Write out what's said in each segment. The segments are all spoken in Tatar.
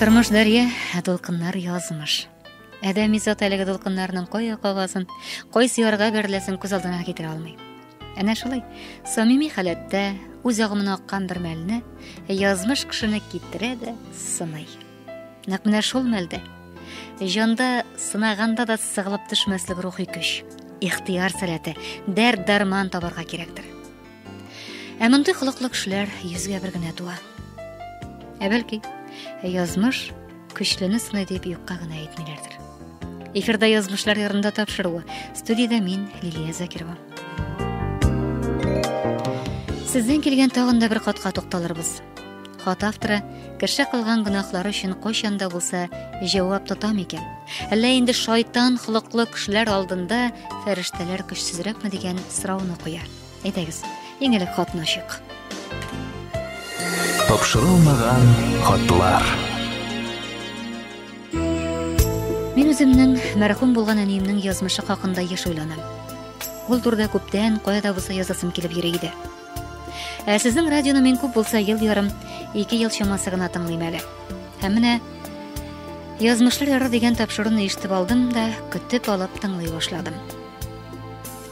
Тормыш дәрья, ә дулкыннар язмыш. Адәми зат әлеге дулкыннарның кая кагазын, кайсы ярга берләсен күз алдына китерә алмый. Әнә шулай, самими халәттә үз агымына аккан бер мәлне язмыш кешене китерә дә сыный. Нәкъ менә шул мәлдә җанда сынаганда да сыгылып төшмәслек рухи көч, ихтыяр сәләте, дәрт дарман табарга кирәктер. Ә мондый холыклы кешеләр йөзгә бер генә туа. Ә бәлки, язмыш көчлене сыный дип юкка гына әйтмиләрдер. Эфирда язмышлар ярында тапшыруы. Студиядә мин Лилия Закирова. Сездән килгән тагын да бер катка тукталырбыз. Хат авторы кеше кылган гөнаһлары өчен кайчан да булса җавап тота микән? Әллә инде шайтан холыклы кешеләр алдында фәрештәләр көчсезрәкме дигән сорауны куя. Әйдәгез, иң элек хатны ачыйк. Тапшырылмаган хатлар. Мин үземнең мәрхүм булган әниемнең язмышы хакында еш уйланам. Ул турыда күптән кая да булса язасым килеп йөри иде. Ә сезнең радионы мин күп булса ел ярым, ике ел чамасы гына тыңлыйм әле. Һәм менә Язмышлар яры дигән тапшыруны ишетеп алдым да, көтеп алып тыңлый башладым.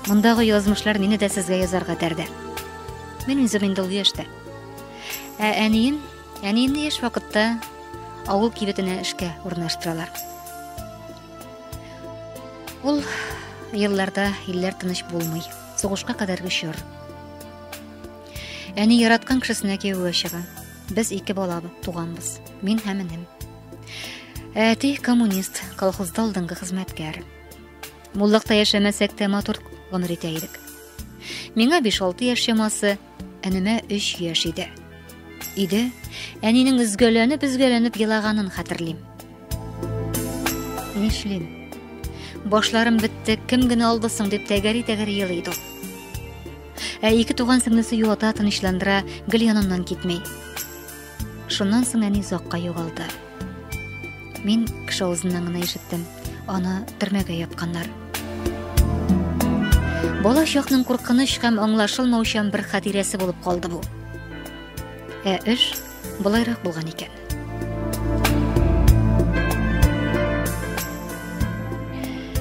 Мондагы язмышлар мине дә сезгә язарга тәрде. Мин үзем инде ул яшьтә. Ә әнием, әниемне яшь вакытта авыл кибетенә эшкә урнаштыралар. Ул елларда илләр тыныч булмый. Сугышка кадәрге чор. Әни яраткан кешесенә кияүгә чыга. Без ике бала туганбыз. Мин һәм энем. Әти коммунист, колхозда алдынгы хезмәткәр. Муллыкта яшәмәсәк тә матур гомер итә идек. Миңа 5-6 яшь чамасы Әнемә өч яшь иде. Иде, әнинең өзгәләнеп-өзгәләнеп елаганын хәтерлим. Нишлим? Башларым бетте, кем генә алды соң дип тәгәри-тәгәри елый иде ул. Ә ике туган сеңлесе юата, тынычландыра, гел яныннан китми. Шуннан соң әни озакка югалды. Мин кеше авызыннан гына ишеттем. Аны төрмәгә япканнар. Бала чакның куркыныч һәм аңлашылмаучан бер хатирәсе булып калды бу. Ә эш болайрак булган икән.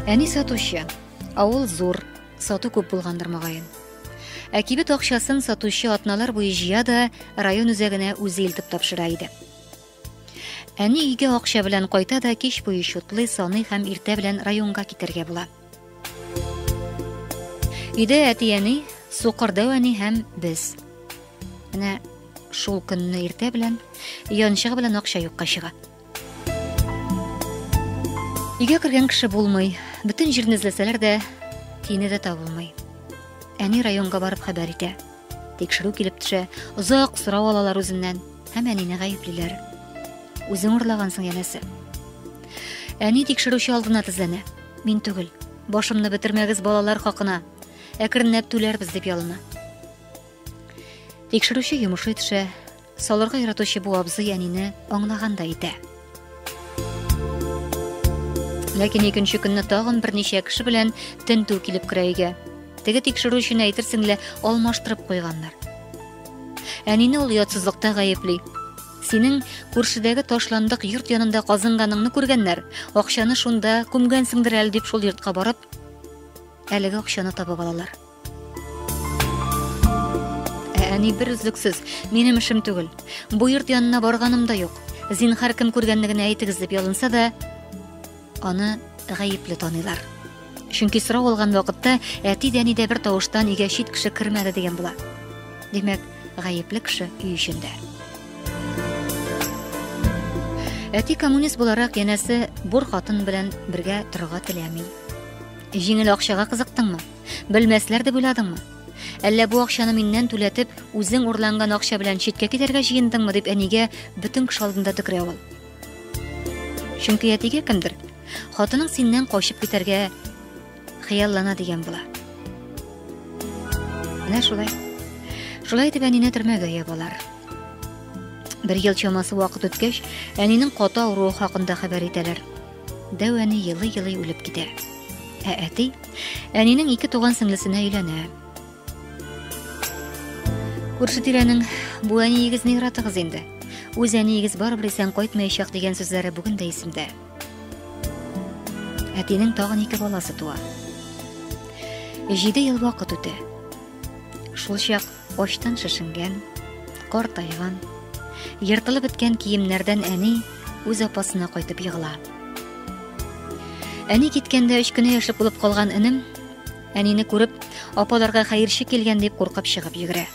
Әни сатучы, авыл зур, Сату күп булгандыр мөгаен. Ә кибет акчасын сатучы атналар буе җыя да район үзәгенә үзе илтеп тапшыра иде. Әни өйгә акча белән кайта да кич буе чутлый, саный һәм иртә белән районга китәргә була. Өйдә әти-әни, Сукырдау әни һәм без. Менә шул көнне иртә белән янчыгы белән акча юкка чыга. Өйгә кергән кеше булмый, бөтен җирне эзләсәләр дә, тиене дә табылмый. Әни районга барып хәбәр итә. Тикшерү килеп төшә, озак сорау алалар үзеннән һәм әнине гаеплиләр. Үзең урлагансың, янәсе. Әни тикшерүче алдына тезләнә. Мин түгел. Башымны бетермәгез балалар хакына. Әкренләп түләрбез дип ялына. Тикшерүче йомышы төшә, Салырга яратучы бу абзый әнине аңлаган да итә. Ләкин икенче көнне тагын берничә кеше белән тентү килеп керә өйгә. Теге тикшерү өчен әйтерсең лә алмаштырып куйганнар. Әнине ул ятсызлыкта гаепли. Синең күршедәге ташландык йорт янында казынганыңны күргәннәр. Акчаны шунда күмгәнсеңдер әле дип шул йортка барып, әлеге акчаны табып алалар. Ә әни бер үзлексез, минем эшем түгел. Бу йорт янына барганым да юк. Зинхар кем күргәнне генә әйтегез дип ялынса да, аны гаепле таныйлар. Чөнки сорау алган вакытта әти дә әни дә бер тавыштан өйгә чит кеше кермәде дигән була. Димәк, гаепле кеше өй эчендә. Әти коммунист буларак янәсе бур хатын белән бергә торырга теләми. Җиңел акчага кызыктыңмы? Белмәсләр дип уйладыңмы? Әллә бу акчаны миннән түләтеп, үзең урланган акча белән читкә китәргә җыендыңмы дип әнигә бөтен кеше алдында төкерә ул. Чөнки әтигә кемдер хатының синнән качып китәргә хыяллана дигән була. Менә шулай. Шулай итеп әнине төрмәгә ябалар. балар. Бер ел чамасы вакыт үткәч, әнинең каты авыруы хакында хәбәр итәләр. Дәү әни елый-елый үлеп китә. Ә әти әнинең ике туган сеңлесенә өйләнә. Күрше тирәнең бу әниегез ни яратыгыз инде? Үз әниегез барыбер исән кайтмаячак дигән сүзләре бүген дә исемдә. Әтинең тагын ике баласы туа. Җиде ел вакыт үтә. Шул чак Очтан шешенгән, кар тайган, ертылып беткән киемнәрдән әни үз апасына кайтып егыла. Әни киткәндә өч кенә яшьлек булып калган энем, әнине күреп, апаларга хәерче килгән дип куркып чыгып йөгерә.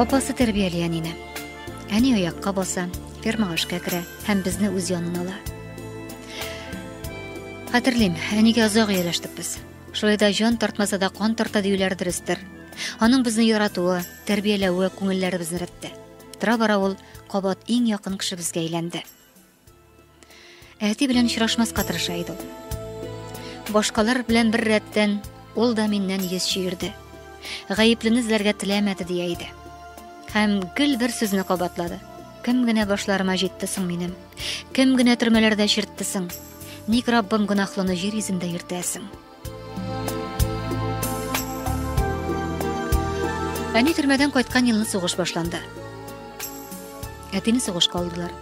Апасы тәрбияли әнине. Әни оякка баса, фермага эшкә керә һәм безне үз янына ала. Хәтерлим, әнигә озак ияләштек без. Шулай да җан тартмаса да кан тарта диюләр дөрестер. Аның безне яратуы, тәрбияләве күңелләребезне рәтте. Тора бара ул кабат иң якын кешебезгә әйләнде. Әти белән очрашмаска тырыша иде ул. Башкалар белән бер рәттән ул да миннән йөз чөерде. Гаеплене эзләргә теләмәде дия иде. Һәм гел бер сүзне кабатлады. Кем генә башларыма җитте соң минем? Кем генә төрмәләрдә чиртте соң? Ник Раббым гөнаһлыны җир йөзендә йөртәсең? Әни төрмәдән кайткан елны сугыш башланды. Әтине сугышка алдылар,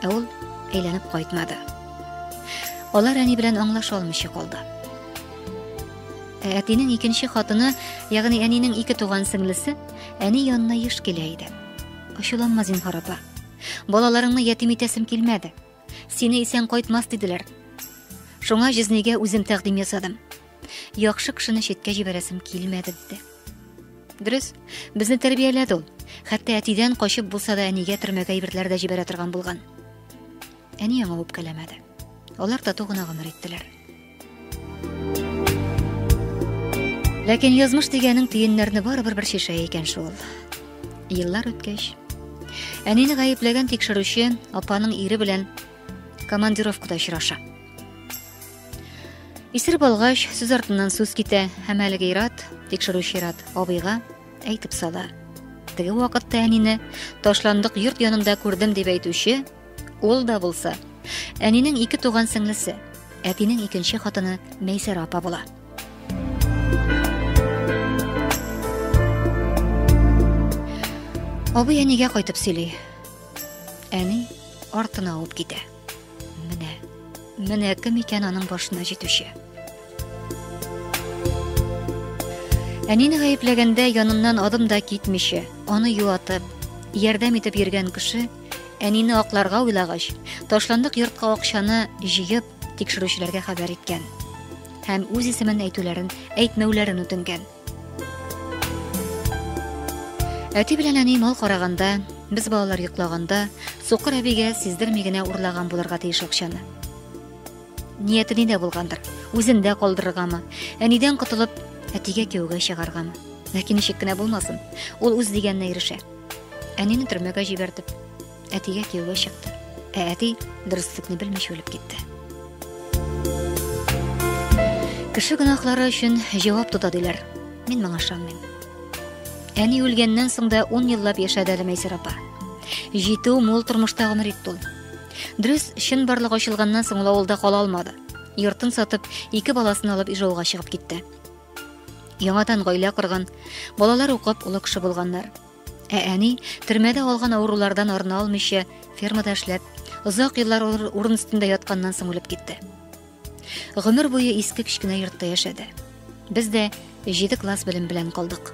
ә ул әйләнеп кайтмады. Алар әни белән аңлаша алмыйча калды. Ә әтинең икенче хатыны, ягъни әнинең ике туган сеңлесе, әни янына еш килә иде. Ачуланма зинһар апа. Балаларыңны ятим итәсем килмәде. Сине исән кайтмас диделәр. Шуңа җизнигә үзем тәкъдим ясадым. Яхшы кешене читкә җибәрәсем килмәде диде. Дөрес, безне тәрбияләде ул. Хәтта әтидән качып булса да әнигә төрмәгә әйберләр дә җибәрә торган булган. Әни аңа үпкәләмәде. Алар тату гына гомер иттеләр. Ләкин язмыш дигәнең төеннәрне барыбер бер шешә икән шул. Еллар үткәч, әнине гаепләгән тикшерүче апаның ире белән командировкада очраша. Исер болгач, сүз артыннан сүз китә һәм әлеге ират, тикшерүче ират абыйга әйтеп сала. Теге вакытта әнине ташландык йорт янында күрдем дип әйтүче Ул да булса, әнинең ике туган сеңлесе, әтинең икенче хатыны Мәйсәрә апа була. Абый әнигә кайтып сөйли. Әни артына авып китә. Менә, менә кем икән аның башына җитүче. Әнине гаепләгәндә яныннан адым да китмичә, аны юатып, ярдәм итеп йөргән кеше Әнине акларга уйлагач, ташландык йортка акчаны җыеп, тикшерүчеләргә хәбәр иткән. Һәм үз исемен әйтүләрен, әйтмәүләрен үтенгән. Әти белән әни мал караганда, без балалар йоклаганда, Сукыр әбигә сиздерми генә урлаган булырга тиеш акчаны. Нияте нидә булгандыр? Үзендә калдырыргамы? Әнидән котылып, әтигә кияүгә чыгаргамы? Ләкин ничек кенә булмасын, ул үз дигәненә ирешә. Әнине төрмәгә җибәрдек. Әтигә кияүгә чыкты. Ә әти дөреслекне белмичә үлеп китте. Кеше гөнаһлары өчен җавап тота диләр. Мин моңа ышанмыйм. Әни үлгәннән соң да 10 еллап яшәде әле Мәйсәр апа. Җитү мул тормышта гомер итте ул. Дөрес, чын барлык ачылганнан соң ул авылда кала алмады. Йортын сатып, ике баласын алып Ижауга чыгып китте. Яңадан гаилә корган, балалар укып олы кеше булганнар. Ә әни төрмәдә алган авырулардан арына алмыйча, фермада эшләп, озак еллар урын өстендә ятканнан соң үлеп китте. Гомер буе иске кечкенә йортта яшәде. Без дә 7 класс белем белән калдык.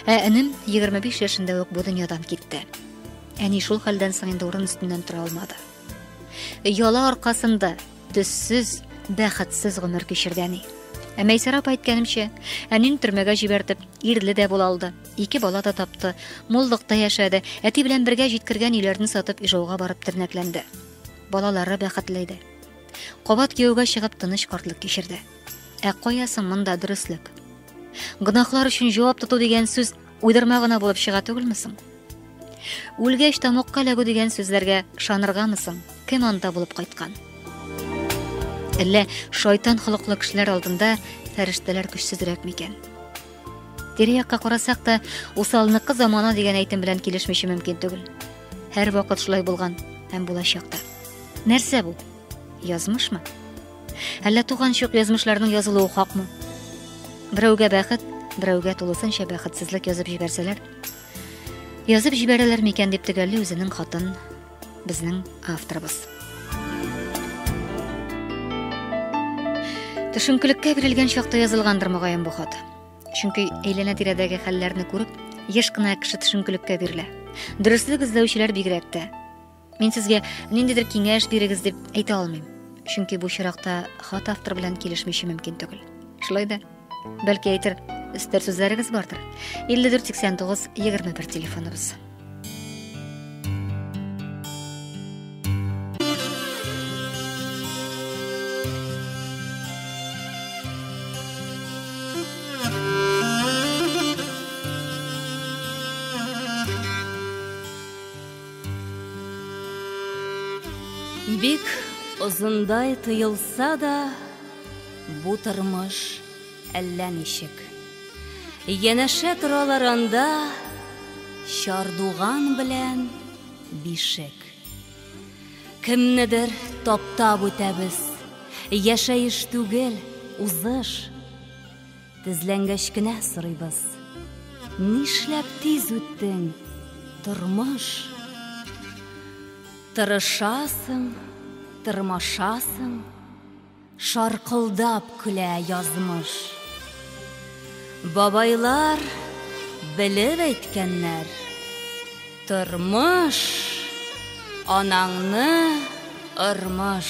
Ә энем 25 яшендә үк бу дөньядан китте. Әни шул хәлдән соң инде урын өстеннән тора алмады. Яла аркасында Төссез, бәхетсез гомер кичерде әни. Ә Мәйсәрә апа әйткәнемчә, әнин төрмәгә җибәртеп, ирле дә була алды. Ике бала да тапты, муллыкта яшәде, әти белән бергә җиткергән өйләрне сатып Ижауга барып тернәкләнде. Балалары бәхетле иде. Кабат кияүгә чыгып тыныч картлык кичерде. Ә кая соң монда дөреслек? Гөнаһлар өчен җавап тоту дигән сүз Уйдырма гына булып чыга түгелме соң? Үлгәч тамокка эләгү дигән сүзләргә ышаныргамы соң? Кем анда булып кайткан? Әллә шайтан холыклы кешеләр алдында фәрештәләр көчсезрәк микән? Тирә-якка карасак та, усалныкы замана дигән әйтем белән килешмичә мөмкин түгел. Һәр вакыт шулай булган һәм булачак та. Нәрсә бу? Язмышмы? Әллә туган чук язмышларның язылуы хакмы? Берәүгә бәхет, берәүгә тулысынча бәхетсезлек язып җибәрсәләр, язып җибәрәләр микән дип төгәлли үзенең хатын безнең авторыбыз. Төшенкелеккә бирелгән чакта язылгандыр мөгаен бу хат. Чөнки әйләнә тирәдәге хәлләрне күреп, еш кына кеше төшенкелеккә бирелә. Дөреслек эзләүчеләр бигрәк тә. Мин сезгә ниндидер киңәш бирегез дип әйтә алмыйм. Чөнки бу чиракта хат автор белән килешмичә мөмкин түгел. Шулай да, бәлки әйтер, өстәр сүзләрегез бардыр. 548921 телефоныбыз. Бик озындай тоелса да, бу тормыш әллә ничек. Янәшә торалар анда чардуган белән бишек. Кемнедер таптап үтәбез, яшәеш түгел, узыш. Тезләнгәч кенә сорыйбыз. Нишләп тиз үттең, тормыш? Тырышасың, тырмашасың, шаркылдап көлә язмыш. Бабайлар белеп әйткәннәр, тормыш анаңны ырмыш.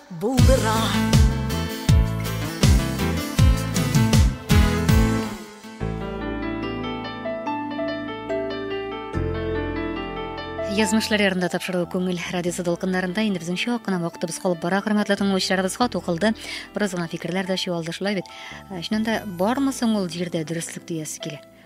Булдыра. Язмышлар ярында тапшыру күңел радиосы дулкыннарында инде безнең чак кына вакытыбыз калып бара, хөрмәтле тыңлаучыларыбыз, хат укылды. Бераз гына фикерләр дә чуалды шулай бит. Ә, чыннан да бармы соң ул җирдә дөреслек диясе килә?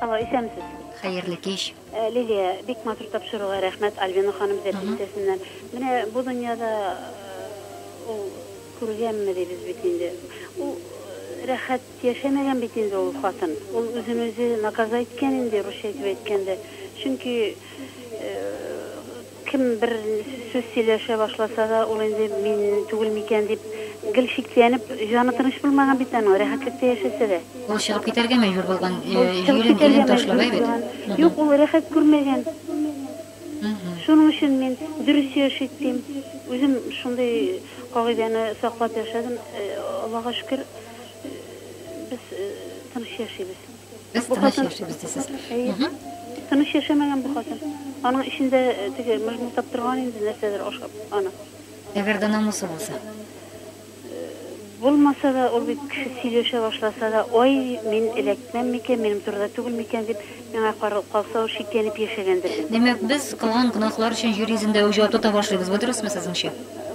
Алло, исәнмесез. Хәерле кич. Лилия, бик матур тапшыруга рәхмәт, Альбина ханым Зәпи өлкәсеннән. Менә бу дөньяда ул күргәнме дибез бит инде. Ул рәхәт яшәмәгән бит инде ул хатын. Ул үзен үзе наказа иткән инде, русча итеп әйткәндә. Чөнки Кем бер сүз сөйләшә башласа да, ул инде мин түгел микән дип, гел шикләнеп, җаны тыныч булмаган бит аның, рәхәтлектә яшәсә дә. Ул чыгып китәргә мәҗбүр булган, җирен-илен ташлап, әйбәт. Юк, ул рәхәт күрмәгән. Шуның өчен мин дөрес яшик, дим. Үзем шундый кагыйдәне саклап яшәдем. Аллага шөкер, без тыныч яшибез. Без Бу тыныч хатын- яшибез дисез. Әйе. Мгм. Тыныч яшәмәгән бу хатын. Аның эчендә э, теге мыжмылдап торган инде нәрсәдер ашап аны. Әгәр дә намусы булса. Булмаса да, ул бит кеше сөйләшә башласа да, ой, мин эләкмәм микән, минем турыда түгел микән дип, миңа каралып калса, ул шикләнеп яшәгәндер инде. Димәк, без кылган гөнаһлар өчен җир йөзендә үк җавап тота башлыйбыз. Бу дөресме сезнеңчә?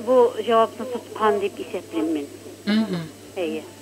Бу җавапны тоткан дип исәплим мин. Мгм. Әйе.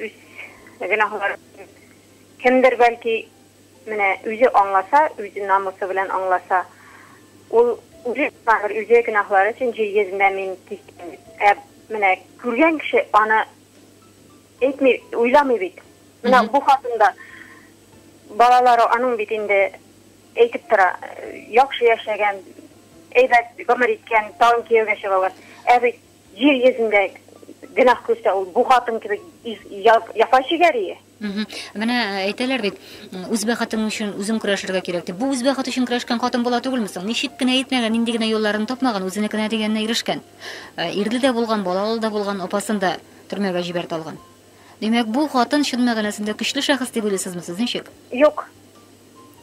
Үз гөнаһларын кемдер, бәлки, менә үзе аңласа, үз намусы белән аңласа, ул үзе гөнаһлар, үзе гөнаһлары өчен җир йөзендә мин кистем. Ә менә күргән кеше аны әйтми, уйламый бит. Менә бу хатында балалары аның бит инде әйтеп тора, яхшы яшәгән, әйбәт гомер иткән, тагын кияүгә чыгалар. Ә бит Җир йөзендә гөнаһ күрсә, ул бу хатын кебек яфа чигәрие. Менә э, әйтәләр бит, үз бәхетең өчен үзең көрәшергә кирәк дип. Бу үз бәхете өчен көрәшкән хатын була түгелме соң? Ничек кенә итмәгән, нинди генә юлларын тапмаган, үзенекенә дигәненә ирешкән. Э, ирле дә булган, балалы да булган, апасын да төрмәгә җибәрт алган. Димәк, бу хатын чын мәгънәсендә көчле шәхес дип уйлыйсызмы сез? Ничек? Юк.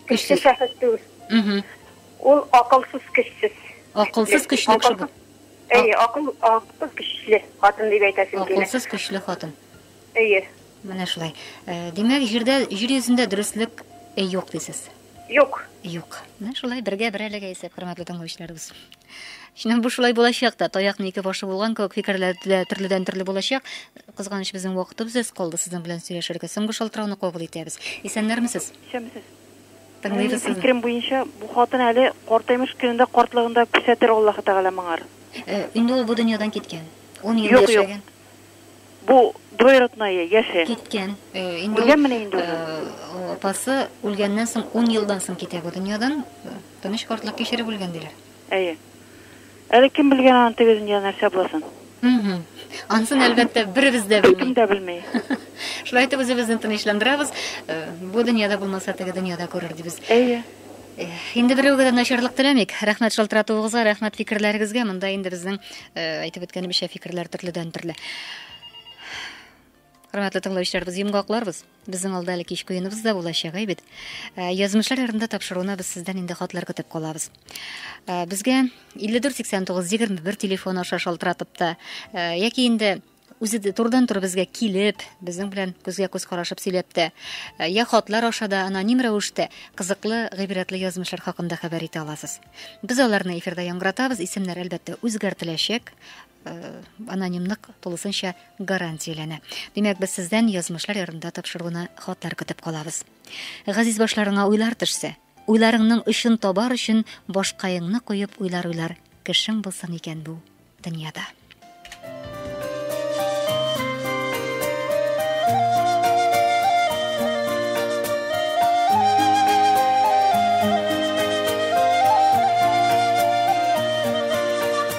Көчле шәхес түгел. Ул акылсыз көчсез. Акылсыз көчле кеше бу. Әйе, акыл, акылсыз көчле хатын дип әйтәсем килә. Акылсыз көчле хатын. Әйе. Менә шулай. Э, димәк, җирдә җир йөзендә дөреслек э, юк дисез. Юк. Юк. Менә шулай бергә бер әлегә исәп, хөрмәтле тыңлаучыларыбыз. Шуннан бу шулай булачак та, таякның ике башы булган кебек фикерләр дә төрледән төрле булачак. Кызганыч безнең вакытыбыз өз калды, сезнең белән сөйләшергә. Соңгы шалтырауны кабул итәбез. Исәннәрмесез? Исәнмесез. Тыңлыйбыз сезне. Фикерем буенча, бу хатын әле картаймыш көнендә картлыгында күрсәтер Аллаһы Тәгалә моңар. Инде ул бу дөньядан киткән. Ун ел яшәгән. Юк, юк. Бу двоеродное, яше. Киткән. Үлгәнмени инде ул? Апасы үлгәннән соң ун елдан соң китә бу дөньядан. Тыныч картлык кичереп үлгән диләр. Әйе. Әле кем белгән аны теге дөнья нәрсә буласын? Мхм. Ансын, әлбәттә, беребез дә белми. Беркем дә белми. Шулай итеп үзебезне тынычландырабыз. Э, бу дөньяда булмаса, теге дөньяда күрер дибез. Әйе. Э, инде берәүгә дә начарлык теләмик. Рәхмәт шалтыратуыгызга, рәхмәт фикерләрегезгә. Монда инде безнең э, әйтеп үткәнебезчә фикерләр төрледән төрле. Хөрмәтле тыңлаучыларыбыз, йомгакларбыз. Безнең алда әле кич куеныбыз да булачак, әйбит. Э, язмышлар ярында тапшыруына без сездән инде хатлар көтеп калабыз. Э, безгә 548921 телефон аша шалтыратып та э, яки инде үзе дә турыдан туры безгә килеп, безнең белән күзгә күз карашып сөйләп тә, э, я хатлар аша да аноним рәвештә кызыклы, гыйбрәтле язмышлар хакында хәбәр итә аласыз. Без аларны эфирда яңгыратабыз, исемнәр әлбәттә үзгәртеләчәк. анонимлык тулысынча гарантияләнә. Димәк, без сездән язмышлар ярдәмендә тапшыруны хатлар көтеп калабыз. Газиз башларыңа уйлар төшсә, уйларыңның өчен табар өчен башкаеңны куеп уйлар уйлар кешең булсын икән бу дөньяда.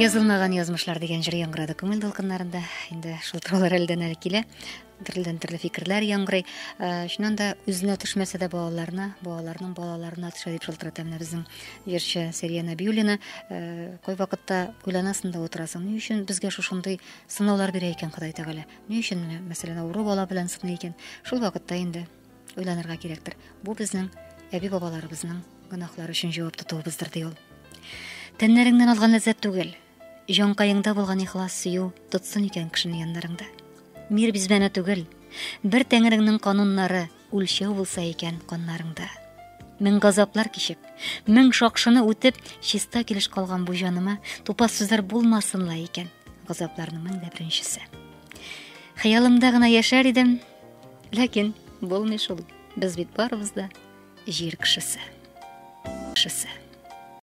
Язылмаган язмышлар дигән җыр яңгырады күңел дулкыннарында. Инде шул туралар әлдән әле килә. Төрледән төрле фикерләр яңгырый. Э, шуннан да үзенә төшмәсә дә балаларына, балаларның балаларына төшә дип шалтырата менә безнең җырчы Сәрия Нәбиуллина. Э, кой вакытта уйланасың да утырасың. Ни өчен безгә шушындый сынаулар бирә икән Ходай Тәгалә? Ни өчен мәсәлән авыру бала белән сыный икән? Шул вакытта инде Уйланырга кирәктер. Бу безнең әби бабаларыбызның гөнаһлары өчен җавап тотуыбыздыр, ди ул. Тәннәреңнән алган ләззәт түгел, җанкаеңда булган ихлас сөю тотсын икән кешене яннарыңда. Мир бизбәнә түгел, бер тәңреңнең кануннары үлчәү булса икән каннарыңда. Мең газаплар кичеп, мең шакшыны үтеп, чиста килеш калган бу җаныма тупас сүзләр булмасынла икән. Газапларның мең дә беренчесе. Хыялымда гына яшәр идем, Ләкин булмый шул. Без бит барыбыз да җир кешесе. Кешесе.